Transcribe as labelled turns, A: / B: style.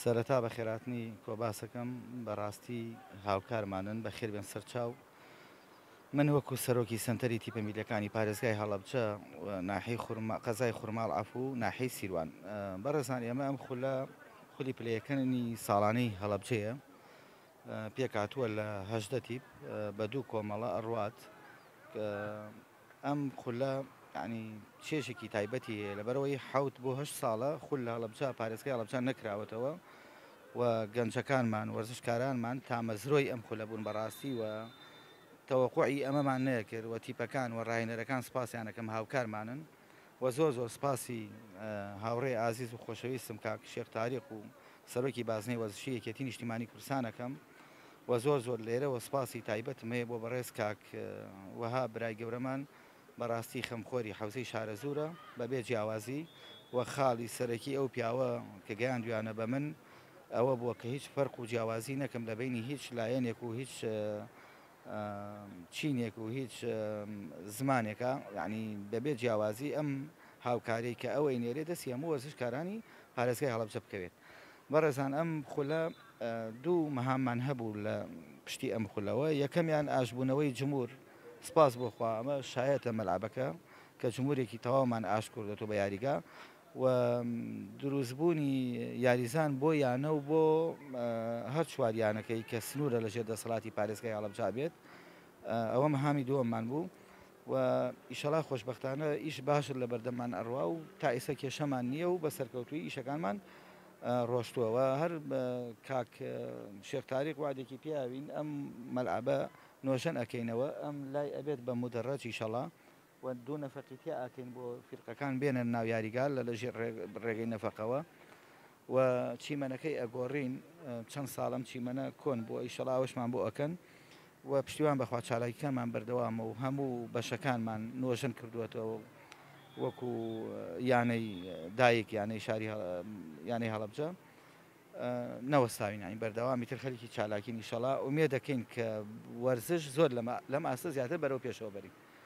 A: سەرەتا بەخێراتنی کۆباسەکەم بەراستی هاوکارمانن بەخێربێن سەرچاو من وەکو سەرۆکی سنتەری تیپە میلەکانی پارێزگای هەڵەبچە ناحی قەزای خورماڵ عفو ناحی سیروان بەڕێزان ئێمە ئەم خولە خولی پلەیەکەنی ساڵانەی هەڵەبچەیە پێکاتووە لە هەشدە تیپ بە دوو کۆمەڵە ئەڕوات ئەم خولە یانی چێژێکی تایبەتی هەیە لەبەرەوەی حەوت بۆ هەشت ساڵە خول لە هەڵەبجە پارێزگای هەڵەبجە نەکراوەتەوە و گەنجەکانمان وەرزشکارانمان تامەزرۆی ئەم خولە بوون بەڕاستی و تەوەقوعی ئەمەمان نەیەکرد و تیپەکان و راهێنەرەکان سپاسیانەکەم هاوکارمانن و زۆر زۆر سپاسی هاوڕێ ئازیز و خۆشەویستم کاک شێخ تاریق و سەرۆکی بازنەی وەرزشی یەکێتی نیشتیمانی کوردستان ئەکەم. وە زۆر زۆر لێرەوە سوپاسی تایبەتم هەیە بۆ بەڕێز کاک وەهاب برای گەورەمان بەڕاستی خەمخۆری حەوزەی شارەزوورە بەبێ جیاوازی وە خاڵی سەرەکی ئەو پیاوە کە گەیاندویانە بە من ئەوە بووە کە هیچ فەرق و جیاوازی نەکەم لە بینی هیچ لایەنێک و هیچ چینێک و هیچ زمانێکە یعنی بەبێ جیاوازی ئەم هاوکاری کە ئەوەی نێرێ دەستی هەموو وەرزشکارانی پارێزگای هەڵەبجە بکەوێت بەڕێزان ئەم خولە دوو مهاممان هەبوو لە پشتی ئەم خولەوە، یەکەمیان ئاشتبوونەوەی جموور، سپاس بۆ خوا ئەمە شایەت لە مەلعەبەکە کە جموورێکی تەواومان ئاشت کردۆتەوە بە یاریگا و درووستبوونی یاریزان بۆ یانە و بۆ هەر چوار یانەکەی کە سنوورە لەژێر دەسەڵاتی پارێزگای هەڵەبجا بێت ئەوە مهامی دووەممان بوو. و ئیشەڵا خۆشبەختانە ئیش باشت لە بەردەممان ئەڕوا و تا ئیسە کێشەمان نییە و بە سەرکەوتووی ئیشەکانمان ڕۆشتووە و هەر کاک شێخ تاریق وادێکی پیاوین ئەم مەلعەبە نۆژەن ئەکەینەوە ئەم لای ئەبێت بە مودەڕەج ئیشەڵا و دوو نەفەقی تیا ئەکەین بۆ فیرقەکان بێنە ناو یاریگا لە لە ژێر ڕێگەی نەفەقەوە و چیمەنەکەی ئەگۆڕین چەند ساڵە ئەم چیمەنە کۆن بووە ئیشەڵا ئەوەشمان بۆ ئەکەن و پشتیوان بەخوا چالاکیەکانمان بەردەوامە و هەموو بەشەکانمان نۆژەن کردووەتەوە وەکو یانەی دایک یانەی شاری یانەی هەڵبجە نەوەستاوی ناین بەردەوامی تر خەریکی چالاکی نیشەڵا ئومێ دەکەین کە وەرزش زۆر لەم ئاستە زیاتر بەرەو پێشەوە بەرین